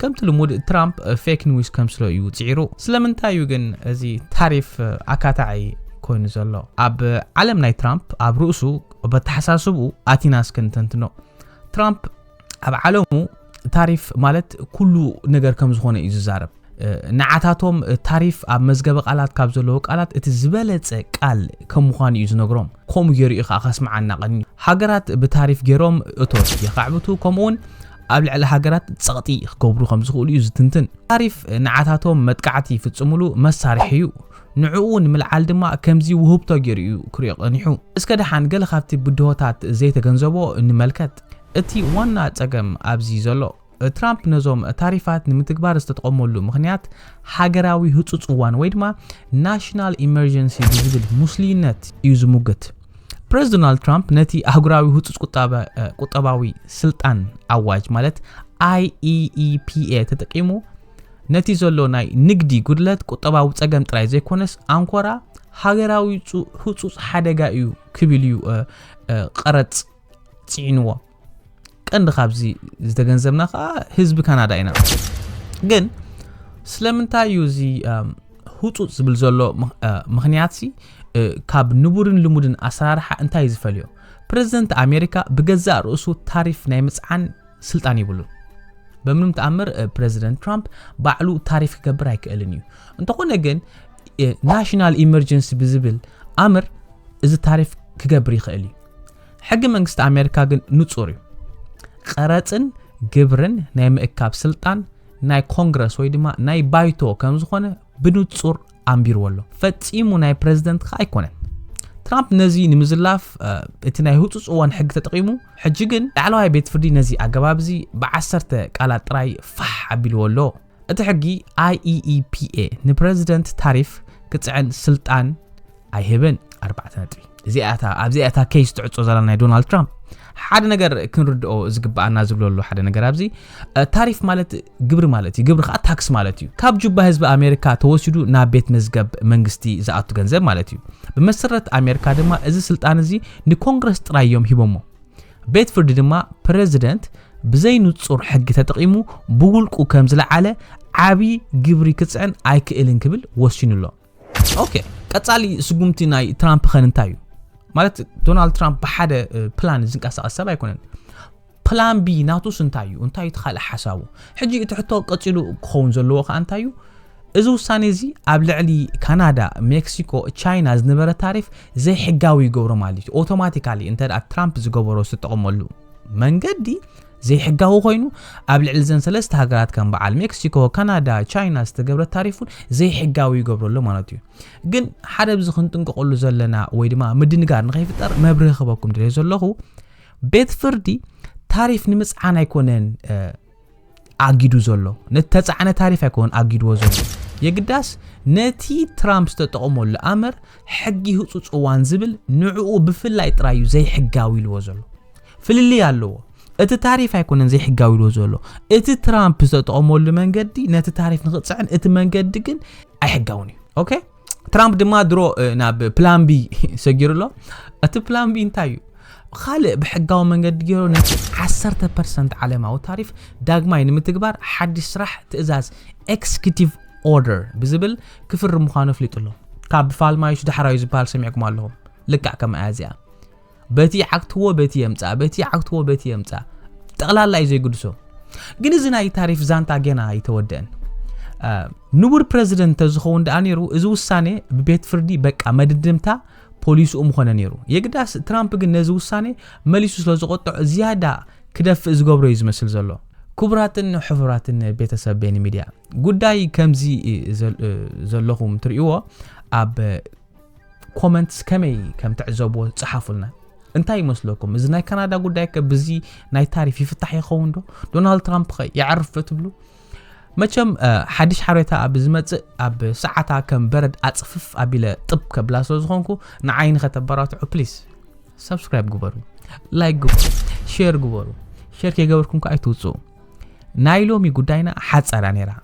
ከምቲ ልሙድ ትራምፕ ፌክ ኒውስ ከምስሎ እዩ ጽዒሩ። ስለምንታይ እዩ ግን እዚ ታሪፍ ኣካታዒ ኮይኑ ዘሎ? ኣብ ዓለም ናይ ትራምፕ ኣብ ርእሱ በተሓሳስብኡ ኣቲና እስከ ንተንትኖ። ትራምፕ ኣብ ዓለሙ ታሪፍ ማለት ኩሉ ነገር ከም ዝኾነ እዩ ዝዛረብ። ንዓታቶም ታሪፍ ኣብ መዝገበ ቃላት ካብ ዘለዎ ቃላት እቲ ዝበለጸ ቃል ከም ምዃኑ እዩ ዝነግሮም ከምኡ ገይሩ እዩ ከዓ ከስምዓና ቀንዩ ሃገራት ብታሪፍ ገይሮም እቶት የኻዕብቱ ከምኡ እውን ኣብ ልዕሊ ሃገራት ጸቕጢ ክገብሩ ከም ዝኽእሉ እዩ ዝትንትን ታሪፍ ንዓታቶም መጥቃዕቲ ይፍጽሙሉ መሳርሒ እዩ ንዕኡ ንምልዓል ድማ ከምዚ ውህብቶ ገይሩ እዩ ክሪኦ ቀኒሑ እስከ ደሓን ገለ ካብቲ ብድሆታት ዘይተገንዘቦ ንመልከት እቲ ዋና ጸገም ኣብዚ ዘሎ ትራምፕ ነዞም ታሪፋት ንምትግባር ዝተጠቐመሉ ምኽንያት ሃገራዊ ህፁፅ እዋን ወይ ድማ ናሽናል ኢመርጀንሲ ብዝብል ሙስሊነት እዩ ዝሙግት። ፕሬዚደንት ዶናልድ ትራምፕ ነቲ ኣህጉራዊ ህፁፅ ቁጠባዊ ስልጣን ኣዋጅ ማለት IEEPA ተጠቂሙ ነቲ ዘሎ ናይ ንግዲ ጉድለት ቁጠባዊ ጸገም ጥራይ ዘይኮነስ ኣንኮራ ሃገራዊ ህጹጽ ሓደጋ እዩ ክብል እዩ ቀረጽ ፅዒንዎ ቀንዲ ካብዚ ዝተገንዘብና ከዓ ህዝቢ ካናዳ ኢና ግን ስለምንታይ እዩ እዚ ህፁፅ ዝብል ዘሎ ምክንያት ካብ ንቡርን ልሙድን ኣሰራርሓ እንታይ እዩ ዝፈልዮ ፕረዚደንት ኣሜሪካ ብገዛእ ርእሱ ታሪፍ ናይ ምፅዓን ስልጣን ይብሉ በምንም ተኣምር ፕረዚደንት ትራምፕ ባዕሉ ታሪፍ ክገብር ኣይክእልን እዩ እንተኾነ ግን ናሽናል ኢመርጀንሲ ብዝብል ኣምር እዚ ታሪፍ ክገብር ይኽእል እዩ ሕጊ መንግስቲ ኣሜሪካ ግን ንጹር እዩ። ቐረጽን ግብርን ናይ ምእካብ ስልጣን ናይ ኮንግረስ ወይ ድማ ናይ ባይቶ ከም ዝኾነ ብንጹር ኣንቢርዎ ኣሎ። ፈጺሙ ናይ ፕረዚደንት ከ ኣይኮነን። ትራምፕ ነዚ ንምዝላፍ እቲ ናይ ህፁፅ እዋን ሕጊ ተጠቂሙ ሕጂ ግን ላዕለዋይ ቤት ፍርዲ ነዚ ኣገባብ እዚ ብዓሰርተ ቃላት ጥራይ ፋሕ ኣቢልዎ ኣሎ እቲ ሕጊ IEEPA ንፕረዚደንት ታሪፍ ክጽዕን ስልጣን ኣይህብን። ኣርባዕተ ነጥቢ እዚኣ እታ ኣብዚኣ እታ ኬስ ትዕጾ ዘላ ናይ ዶናልድ ትራምፕ ሓደ ነገር ክንርድኦ ዝግብኣና ዝብሎ ኣሎ ሓደ ነገር ኣብዚ ታሪፍ ማለት ግብሪ ማለት እዩ ግብሪ ከዓ ታክስ ማለት እዩ ካብ ጁባ ህዝቢ ኣሜሪካ ተወሲዱ ናብ ቤት መዝገብ መንግስቲ ዝኣቱ ገንዘብ ማለት እዩ ብመሰረት ኣሜሪካ ድማ እዚ ስልጣን እዚ ንኮንግረስ ጥራይ እዮም ሂቦሞ ቤት ፍርዲ ድማ ፕረዚደንት ብዘይ ንጹር ሕጊ ተጠቒሙ ብውልቁ ከም ዝለዓለ ዓቢ ግብሪ ክጽዕን ኣይክእልን ክብል ወሲኑ ኣሎ። ኦኬ ቀጻሊ ስጉምቲ ናይ ትራምፕ ኸን እንታይ እዩ? ማለት ዶናልድ ትራምፕ ብሓደ ፕላን ዝንቀሳቐስ ሰብ ኣይኮነን። ፕላን ቢ ናቱስ እንታይ እዩ እንታይ እቲ ካልእ ሓሳቡ ሕጂ እቲ ሕቶ ቀጺሉ ክኸውን ዘለዎ ከዓ እንታይ እዩ እዚ ውሳኔ እዚ ኣብ ልዕሊ ካናዳ፣ ሜክሲኮ፣ ቻይና ዝነበረ ታሪፍ ዘይሕጋዊ ይገብሮ ማለት እዩ። ኦቶማቲካሊ እንተ ትራምፕ ዝገበሮ ዝተጠቕመሉ መንገዲ ዘይሕጋዊ ኮይኑ ኣብ ልዕሊ ዘን ሰለስተ ሃገራት ከም በዓል ሜክሲኮ ካናዳ ቻይና ዝተገብረ ታሪፍ እውን ዘይሕጋዊ ይገብሮ ኣሎ ማለት እዩ ግን ሓደ ብዚ ክንጥንቀቐሉ ዘለና ወይ ድማ ምድንጋር ንኸይፍጠር መብርህ ክበኩም ድለ ዘለኹ ቤት ፍርዲ ታሪፍ ንምፅዓን ኣይኮነን ኣጊዱ ዘሎ ንተጻዕነ ታሪፍ ኣይኮነን ኣጊድዎ ዘሎ የግዳስ ነቲ ትራምፕ ዝተጠቕመሉ ኣምር ሕጊ ህፁፅ እዋን ዝብል ንዕኡ ብፍላይ ጥራይ እዩ ዘይሕጋዊ ኢልዎ ዘሎ ፍልልይ ኣለዎ እቲ ታሪፍ ኣይኮነን ዘይሕጋዊ ኢልዎ ዘሎ እቲ ትራምፕ ዝተጠቕመሉ መንገዲ ነቲ ታሪፍ ንክፅዕን እቲ መንገዲ ግን ኣይሕጋውን እዩ ኦኬ ትራምፕ ድማ ድሮ ናብ ፕላን ቢ ሰጊሩ ኣሎ እቲ ፕላን ቢ እንታይ እዩ ካልእ ብሕጋዊ መንገዲ ገይሩ ነቲ 10 ፐርሰንት ዓለማዊ ታሪፍ ዳግማይ ንምትግባር ሓድሽ ስራሕ ትእዛዝ ኤክስኪቲቭ ኦርደር ብዝብል ክፍርም ምዃኑ ኣፍሊጡ ኣሎ ካብ ፋልማይሽ ዳሕራዩ ዝበሃል ሰሚዕኩም ኣለኹም ልክዕ ከምኣ እዚኣ በቲ ይዓግትዎ በቲ የምፃእ በቲ ይዓግትዎ በቲ የምፃእ ጠቕላላ እዩ ዘይግድሶም ግን እዚ ናይ ታሪፍ ዛንታ ገና ኣይተወደአን ንቡር ፕረዚደንት ተዝኸውን ደኣ ነይሩ እዚ ውሳኔ ብቤት ፍርዲ በቃ መድድምታ ፖሊስኡ ምኾነ ነይሩ የግዳስ ትራምፕ ግን ነዚ ውሳኔ መሊሱ ስለ ዝቆጥዖ ዝያዳ ክደፍእ ዝገብሮ እዩ ዝመስል ዘሎ ክቡራትን ሕፉራትን ቤተሰብ ቤኒ ሚድያ ጉዳይ ከምዚ ዘለኹም ትርእይዎ ኣብ ኮመንትስ ከመይ ከም ትዕዘብዎ ጽሓፉልና። እንታይ ይመስለኩም እዚ ናይ ካናዳ ጉዳይ ከ ብዚ ናይ ታሪፍ ይፍታሕ ይኸውን ዶ? ዶናልድ ትራምፕ ከ ይዓርፍ ዶ ትብሉ? መቸም ሓድሽ ሓበሬታ ኣብ ዝመጽእ ኣብ ሰዓታ ከም በረድ ኣጽፍፍ ኣቢለ ጥብ ከብላ ስለ ዝኾንኩ ንዓይ ንኸተበራትዑ ፕሊስ ሰብስክራይብ ግበሩ ላይክ ግበሩ ሼር ግበሩ ሼር ከይገበርኩም ከ ኣይትውፅኡ ናይ ሎሚ ጉዳይና ሓፀራ ነይራ